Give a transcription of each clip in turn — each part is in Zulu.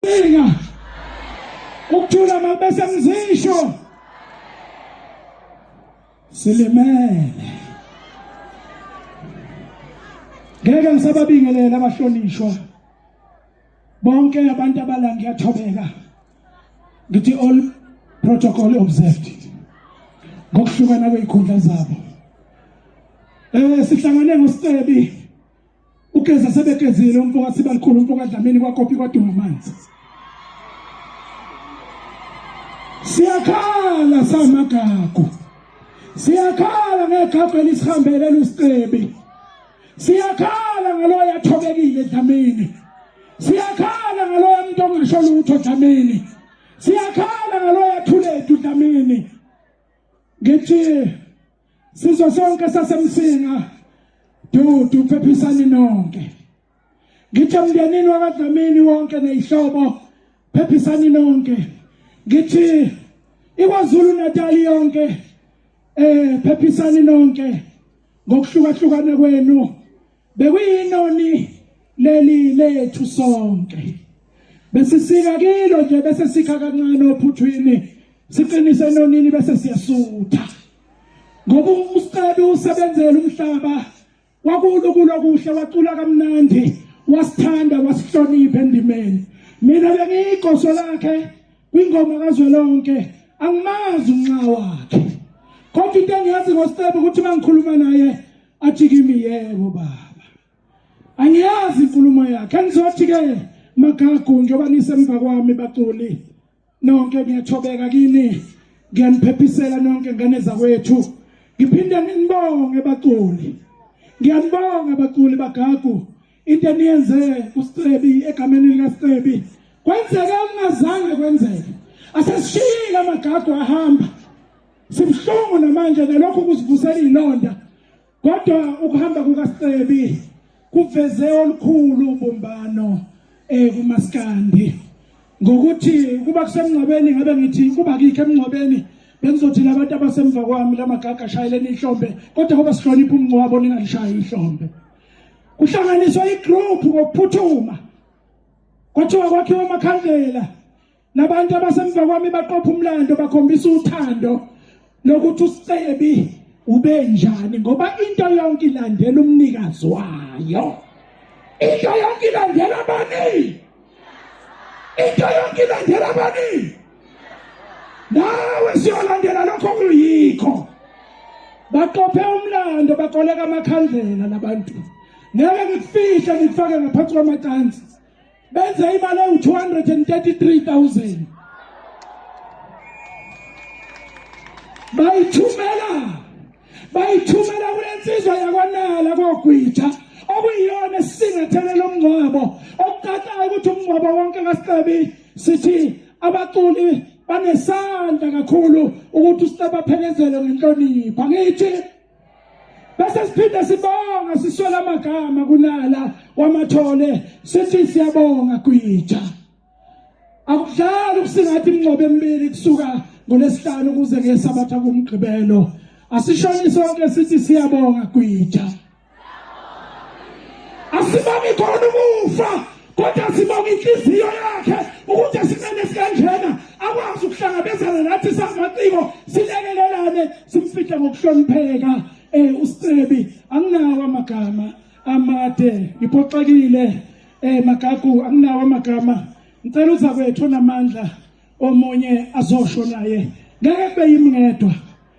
Bika. Ukuthula makubese mzisho. Silimele. Ngeke ngisababingelela abahlonishwa. Bonke abantu abala ngiyathobeka. Ngithi all protocol observed. Ngokuhlukana kwezikhundla zabo. Eh sihlangane ngoSebi ugeza sebegezile umfo kasibalikhulu umfo kadlamini kwakopi kwadunga amanzi siyakhala samagagu siyakhala ngegagu elisihambele lusicebi siyakhala ngaloyo athobekile dlamini siyakhala ngaloyo muntu ongasho lutho dlamini siyakhala ngaloyo athulethu dlamini ngithi Sizwe sonke sasemsinga dudu phephisani nonke ngithe mndenini wakadlamini wonke nezihlobo phephisani nonke ngithi ikwazulu natali yonke eh phephisani nonke ngokuhlukahlukana kwenu Bekuyinoni leli lethu sonke. Besisika kilo nje bese sikha kancane ophuthwini siqinise enonini bese siyasutha. Ngoba umsqabi usebenzela umhlaba wakulo kulo kuhle wacula kamnandi wasithanda wasihlonipha endimeni. Mina bengiyigoso lakhe kwingoma kazwelonke angimazi unxa wakhe. Kodwa into engiyazi ngosqabi ukuthi mangikhuluma naye athi kimi yebo baba angiyazi inkulumo yakhe angizothi ke magagu njengoba nisemva kwami baculi nonke ngiyathobeka kini ngiyaniphepisela nonke ngane zakwethu ngiphinde nginibonge baculi ngiyanibonga baculi bagagu into eniyenze uScebi egameni likaScebi kwenzeke okungazange kwenzeke asesishiyile amagagu ahamba Sibuhlungu namanje ngalokho kuzivusela ilonda kodwa ukuhamba kukaScebi kuveze olukhulu ubumbano eh kumaskandi ngokuthi kuba kusemngcwabeni ngabe ngithi kuba kikho emngcwabeni bengizothi labantu abasemva kwami lamagaga ashayeleni ihlombe kodwa ngoba sihlonipha umngcwabo ningalishayi ihlombe kuhlanganiswa igroup ngokuphuthuma kwathiwa kwakhiwa amakhandlela Labantu abasemva kwami baqopha umlando bakhombisa uthando lokuthi usicebi ubenjani ngoba into yonke ilandela umnikazi wayo into yonke ilandela bani into yonke ilandela bani nawe siyolandela lokho kuyikho baqophe umlando bakoleka amakhandlela labantu ngeke ngikufihle ngikufake ngaphansi kwamacansi benze imali ewu-233000 bayithumela bayithumela kule nsizwa yakwanala kogwitha okuyiyona esisingathele lo mngcwabo okukatayo ukuthi umngcwabo wonke kasicebi sithi abaculi banesandla kakhulu ukuthi usiceba phelezele ngenhlonipho angithi bese siphinde sibonga siswela amagama kunala wamathole sithi siyabonga gwija akudlali ukusingathi imingcobo emibili kusuka ngolesihlanu kuze ngesabatha kumgqibelo asishoni sonke sithi siyabonga gwija asibami khona umufa kodwa sibonga inhliziyo yakhe ukuthi esimene sikanjena akwazi ukuhlangabezana nathi samaciko silekelelane simfihle ngokuhlonipheka eh usicebi anginawo amagama amade ngiphoxekile eh magagu anginawo amagama ngicela uza kwethu namandla omunye azosho naye ngeke kube yimngedwa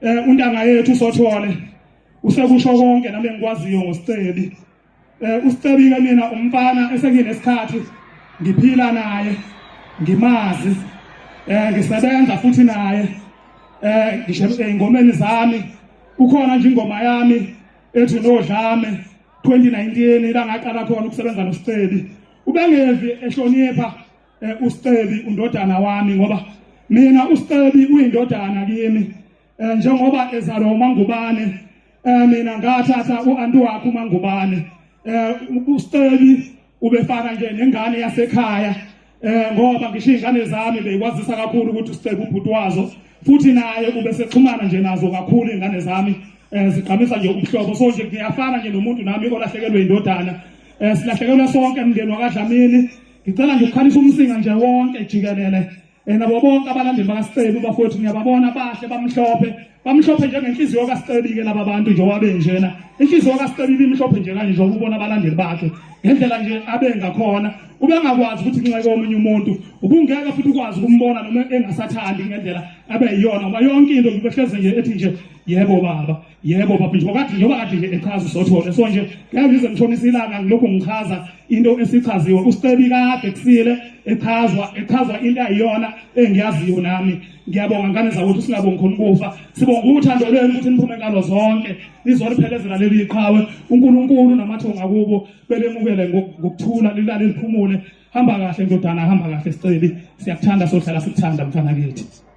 eh untanga yethu sothole usekusho konke nami engikwaziyo ngosicebi eh usicebi ke mina umfana esenginesikhathi ngiphila naye ngimazi eh ngisebenza futhi naye eh ngisho ezingomeni zami kukhona nje ingoma yami ethi nodlame 2019 la ngaqala khona ukusebenza nosicebi ubengevi ehlonipha eh, uStebi undodana wami ngoba mina uStebi uyindodana kimi eh, njengoba ezalwa uMangubane eh, mina ngathatha uanti wakhe uMangubane eh, uStebi ubefana nje nengane yasekhaya eh ngoba ngisho izingane zami beyikwazisa kakhulu ukuthi uStebi ubhuti wazo futhi naye ubesexhumana nje nazo kakhulu izingane zami eh sigqamisa nje umhlobo so nje ngiyafana nje nomuntu nami olahlekelwe indodana eh silahlekelwe sonke emndeni wakadlamini Ngicela nje ukukhalisa umsinga nje wonke jikelele eh, nabo bonke abalandeli bakaSiceli bafowethu ngiyababona bahle bamhlophe bamhlophe njengenhliziyo kaSiceli-ke laba bantu nje wabe njena inhliziyo kaSiceli ibimhlophe nje kanje njengoba ubona abalandeli bakhe ngendlela nje abe ngakhona ubengakwazi ukuthi kunxeke omunye umuntu ubungeke futhi ukwazi ukumbona noma engasathandi ngendlela abe yiyona ngoba yonke into ngibehleze nje ethi nje yebo baba yebo baba njengoba kade njengoba kade nje echaza usothole so nje ngiyazize ngishonisa ilanga ngilokhu ngichaza into esichaziwe usicebi kade kusile echazwa echazwa into ayiyona engiyaziyo nami ngiyabonga ngane zakwethu singabongi khona ukufa sibonga uthando lwenu ukuthi niphume ngalo zonke nizoliphelezela leli iqhawe uNkulunkulu namathonga kubo belemukele ngokuthula lilale liphumule hamba kahle ndodana hamba kahle sicebi siyakuthanda sohlala sikuthanda mfana kithi